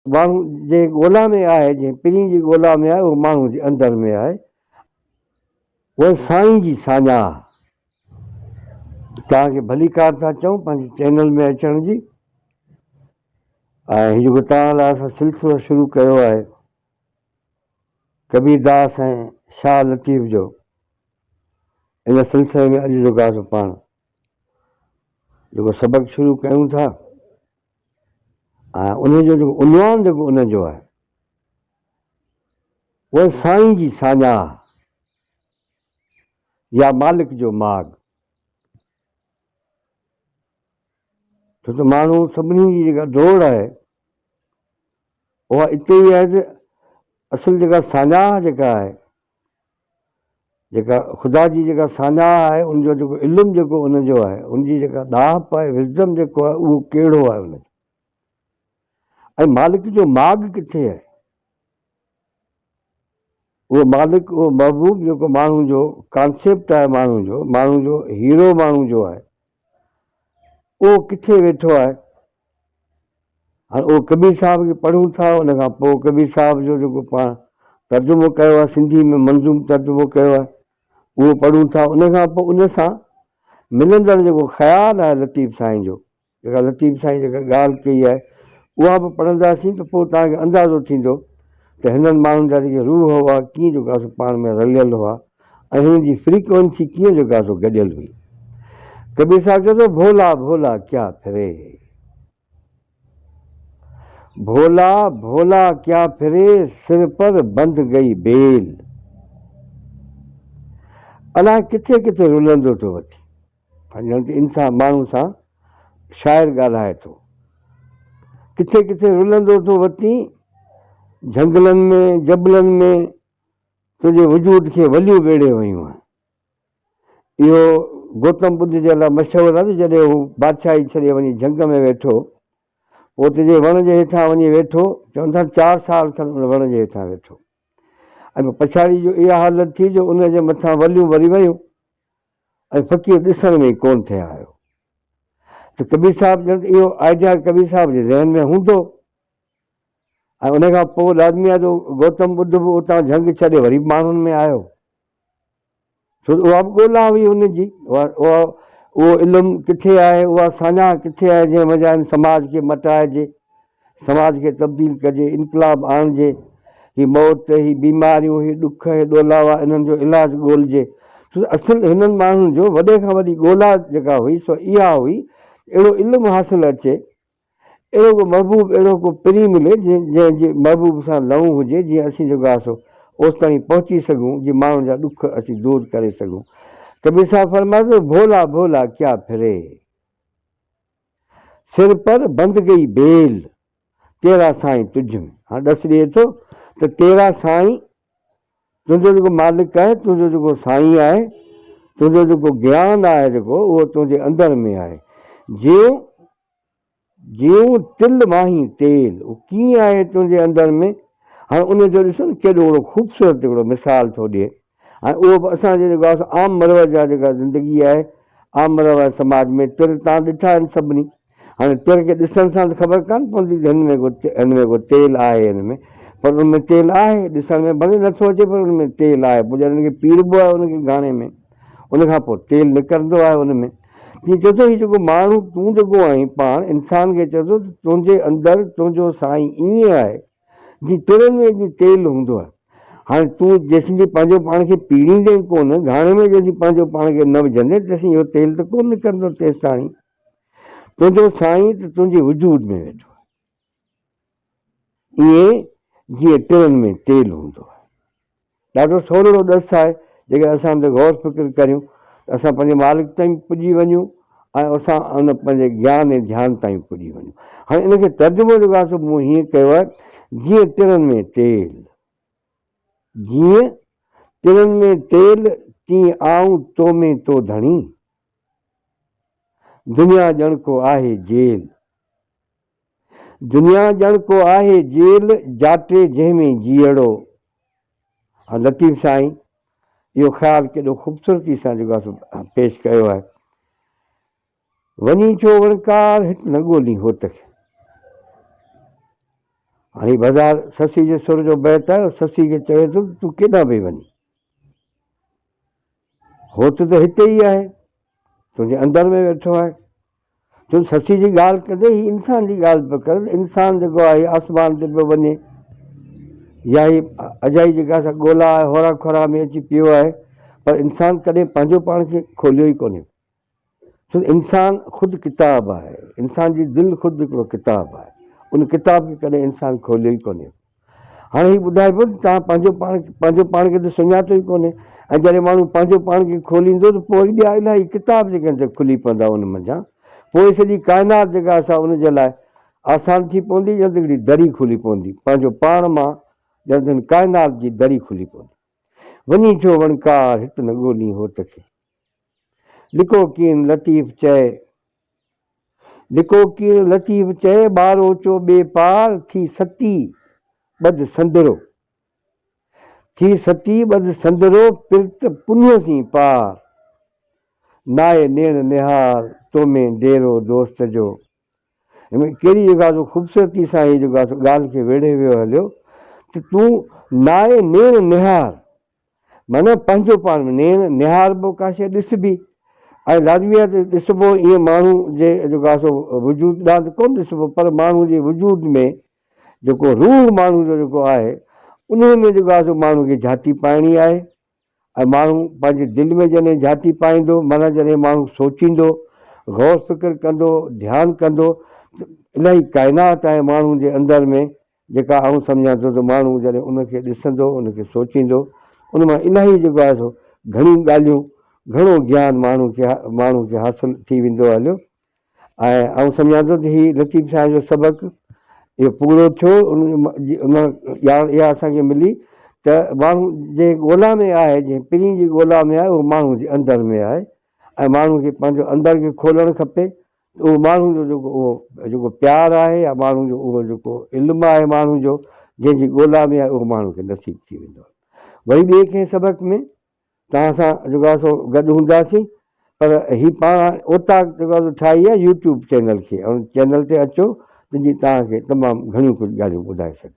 ماڻهو جنهن ڳولا ۾ آهي، جنهن پرين جي ڳولا ۾ آهي، اهو ماڻهو جي اندر ۾ آهي. اهي سائين جي ساڃاهه. توهان کي ڀليڪار ٿا چئون پنهنجي چينل ۾ اچڻ جي ۽ هي جيڪو توهان لاء اسان سلسلو شروع ڪيو آهي ڪبير داس ۽ شاهه لطيف جو ان سلسلي ۾ اڄ جو گاهه پاڻ جيڪو سبق شروع ڪيون ٿا ۽ انهيء جو جيڪو عنوان جيڪو ان جو آهي اهو سائين جي ساڃاهه يا مالڪ جو ماڳ ڇو ته ماڻهو سڀني جي جيڪا ڊوڙ آهي اها اتي ئي آهي ته اصل جيڪا ساڃاهه جيڪا آهي جيڪا خدا جي جيڪا ساڃاهه آهي، ان جو جيڪو علم جيڪو ان جو آهي، ان جي جيڪا ڏاهپ آهي، Wisdom، جيڪو آهي اهو ڪهڙو آهي ان جو؟ ۽ مالڪ جو ماڳ ڪٿي آهي؟ اهو مالڪ، اهو محبوب جيڪو ماڻهو جو ڪانسيپٽ آهي، ماڻهو جو، ماڻهو جو هيرو ماڻهو جو آهي، اهو ڪٿي ويٺو آهي؟ هاڻ اهو ڪبير صاحب کي پڙهون ٿا، ان کان پوء ڪبير صاحب جو جيڪو پاڻ ترجمو ڪيو آهي، سنڌي ۾ منظوم ترجمو ڪيو آهي، اهو پڙهون ٿا، ان کان پوء ان سان ملندڙ جيڪو خيال آهي لطيف سائين جو، جيڪا لطيف سائين جيڪا ڳالهه ڪئي آهي، اها به پڙهنداسين ته پوء توهان کي اندازو ٿيندو ته هنن ماڻهن جا جيڪي روح هئا، ڪيئن جيڪو آهي سو پاڻ ۾ رليل هئا. ۽ هن جي فريڪوئنسي ڪيئن جو ڪا سو گڏيل هئي. ڪبير صاحب چئي ٿو ڀولا ڀولا ڪيا ڦري هي. ڀولا ڀولا ڪيا ڦري سر پر بند گئي بيل. الاء ڪٿي ڪٿي رلندو ٿو وٺي. پنهنجن تي انسان ماڻهو سان شاعر ڳالهائي ٿو. ڪٿي ڪٿي رلندو ٿو وتي جهنگلن ۾ جبلن ۾. تنهنجي وجود کي وليون ٻيڙي ويون آهن. اهو گوتم ٻڌ جي لاء مشهور آهي ته جڏهن هو بادشاهي ڇڏي وڃي جهنگ ۾ ويٺو، پوء اتي جنهن وڻ جي هيٺان وڃي ويٺو، چون ٿا ته چار سال کن ان وڻ جي هيٺان ويٺو ۽ پوء پڇاڙي جو اها حالت ٿي جو ان جي مٿان وليون وري ويون ۽ فقير ڏسڻ ۾ ئي ڪونه ٿي آيو ته ڪبير صاحب ڄڻ ته اهو آئيڊيا ڪبير صاحب جي ذهن ۾ هوندو. ۽ ان کان پوء لازمي آهي جو گوتم ٻڌ به اتان جهنگ ڇڏي وري به ماڻهن ۾ آيو، ڇو ته اها به ڳولا هئي ان جي، اها اهو علم ڪٿي آهي، اها ساڃاهه ڪٿي آهي جنهن وجهه هن سماج کي مٽائجي، سماج کي تبديل ڪجي، انقلاب آڻجي، هي موت، هي بيماريون، هي ڏک، هي ڏولاوا انهن جو علاج ڳولجي، ڇو ته اصل هنن ماڻهن جو وڏي کان وڏي ڳولا جيڪا هئي سو اها هئي اهڙو علم حاصل اچي، اهڙو ڪو محبوب، اهڙو ڪو پرين ملي، جنهن جي محبوب سان لئون هجي، جيئن اسين جو گاسو اوستائين پهچي سگهون، جي ماڻهن جا ڏک اسين دور ڪري سگهون. ڪبير صاحب فرمائي ٿو، ڀولا ڀولا ڪيا ڦري، سر پر بند گئي بيل، تيرا سائين تجھ ۾. هاڻ ڏس ڏئي ٿو ته تيرا سائين، تنهنجو جيڪو مالڪ آهي، تنهنجو جيڪو سائين آهي، تنهنجو جيڪو گيان آهي جيڪو، اهو تنهنجي اندر ۾ آهي. جيئن جيون تل ماهي تيل او ڪيئن آهي تنهنجي اندر ۾، هاڻ ان جو ڏسو نه ڪيڏو وڏو خوبصورت هڪڙو مثال ٿو ڏئي ۽ اهو به اسان جي جيڪو آسان عام مروج جا جيڪا زندگي آهي عام مروج سماج ۾ تر تان ڏٺا آهن سڀني هاڻي تر کي ڏسڻ سان ته خبر ڪانه پوندي ته هن ۾ ڪو هن ۾ ڪو تيل آهي هن ۾ پر ان ۾ تيل آهي ڏسڻ ۾ ڀلي نٿو اچي پر ان ۾ تيل آهي پوء جڏهن ان کي پيڙبو آهي ان کي گهاڻي ۾ ان کان پوء تيل نڪرندو آهي ان ۾. تيئن چئي ٿو هي جيڪو ماڻهو تون جيڪو آهين پاڻ انسان کي چئي ٿو ته تنهنجي اندر تنهنجو سائين ائين آهي جيئن ترن ۾ جيئن تيل هوندو آهي. هاڻي تون جيسين جي پنهنجو پاڻ کي پيڙيندين ڪونه، گهاڻي ۾ جيسين پنهنجو پاڻ کي نه وجهندين تيسين اهو تيل ته ڪونه نڪرندو تيستاڻي تنهنجو سائين ته تنهنجي وجود ۾ ويٺو آهي. ائين جيئن ٽرن ۾ تيل هوندو آهي. ڏاڍو سولڙو ڏس آهي، جيڪڏهن اسان ان تي غور فڪر ڪريون ته اسان پنهنجي مالڪ تائين پڄي وڃون ۽ اسان ان پنهنجي گيان ۽ ڌيان تائين پڄي وڃون. هاڻي ان کي ترجمو جيڪو آهي سو مون هيئن ڪيو آهي، جيئن ٽرن ۾ تيل، جيئن ٽرن ۾ تيل، تيئن آئون تو ۾ تو ڌڻي، دنيا ڄڻ ڪو آهي جيل. دنيا ڄڻ ڪو آهي جيل جاٽي جنهن ۾ جيئڙو ها لطيف سائين اهو خيال ڪيڏو خوبصورتي سان جيڪو آهي سو پيش ڪيو آهي وڃي ڇو وڻڪار هت نه ڳولين هوت کي هاڻي بازار سسي جي سر جو بيت آهي سسي کي چوي ٿو تون ڪيڏانهن پئي وڃي هوت ته هتي ئي آهي، تنهنجي اندر ۾ ويٺو آهي. تون سسي جي ڳالهه ڪندي هي انسان جي ڳالهه پيو ڪر ته انسان جيڪو آهي آسمان تي پيو وڃي يا هي اجائي جيڪا سا ڳولا آهي هورا کورا ۾ اچي پيو آهي پر انسان ڪڏهن پنهنجو پاڻ کي کوليو ئي ڪونهي. سو انسان خود ڪتاب آهي، انسان جي دل خود هڪڙو ڪتاب آهي، ان ڪتاب کي ڪڏهن انسان کوليو ئي ڪونهي. هاڻي هي ٻڌائبو ته توهان پنهنجو پاڻ پنهنجو پاڻ کي ته سڃاتو ئي ڪونهي ۽ جڏهن ماڻهو پنهنجو پاڻ کي کوليندو ته پوء وري ٻيا الائي ڪتاب جيڪي آهن سي کلي پوندا ان منجهان پوء سڄي ڪائنات جيڪا آهي سا ان جي لاء آسان ٿي پوندي ڄڻ ته هڪڙي دري کلي پوندي پنهنجو پاڻ مان ڄڻ ته هن ڪائنات جي دري کلي پوندي وڃي ڇو وڻڪار هت نه ڳولين هوت کي. لڪوڪين لطيف چئي، لڪوڪين لطيف چئي، ٻار اوچو ٻي پار، ٿي ستي ٻڌ سندرو، ٿي ستي ٻڌ سندرو، پرت پنهي سين پار، ناهي نيڻ نهار تو ۾ ديرو دوست جو. ڪهڙي جيڪا سو خوبصورتي سان هي جيڪا سو ڳالهه کي ويڙهي ويو هليو ته تون ناهي نيڻ نهار. معنيٰ پنهنجو پاڻ به نيڻ نهاربو ڪا شيء ڏسبي ۽ لازميت ڏسبو ائين ماڻهو جي جيڪو آهي سو وجود ڏانهن ته ڪونه ڏسبو پر ماڻهو جي وجود ۾ جيڪو روح ماڻهو جو جيڪو آهي انهيء ۾ جيڪو آهي سو ماڻهو کي جهاتي پائڻي آهي ۽ ماڻهو پنهنجي دل ۾ جڏهن جهاتي پائيندو معنيٰ جڏهن ماڻهو سوچيندو غور فڪر ڪندو ڌيان ڪندو ته الهي ڪائنات ۽ ماڻهو جي اندر ۾ جيڪا آئون سمجهان ٿو ته ماڻهو جڏهن ان کي ڏسندو، ان کي سوچيندو، ان مان الاهي جيڪو آهي سو گهڻيون ڳالهيون، گهڻو گيان ماڻهو کي ماڻهو کي حاصل ٿي ويندو هليو ۽ آئون سمجهان ٿو ته هي لطيف شاهه جو سبق اهو پورو ٿيو، ان ان ڄاڻ اها اسان کي ملي ته ماڻهو جنهن ڳولا ۾ آهي، جنهن پرين جي ڳولا ۾ آهي اهو ماڻهو جي اندر ۾ آهي ۽ ماڻهو کي پنهنجو اندر کي کولڻ کپي، اهو ماڻهن جو جيڪو اهو جيڪو پيار آهي يا ماڻهن جو اهو جيڪو علم آهي ماڻهن جو جنهن جي ڳولا ۾ آهي اهو ماڻهن کي نصيب ٿي ويندو آهي وري ٻئي ڪنهن سبق ۾ توهان سان جيڪو آهي سو گڏ هونداسين پر هي پاڻ هاڻي اوطاق جيڪو آهي ٺاهي آهي يوٽيوب چينل کي ان چينل تي اچو ته جي توهان کي تمام گهڻيون ڪجهه ڳالهيون ٻڌائي سگهون.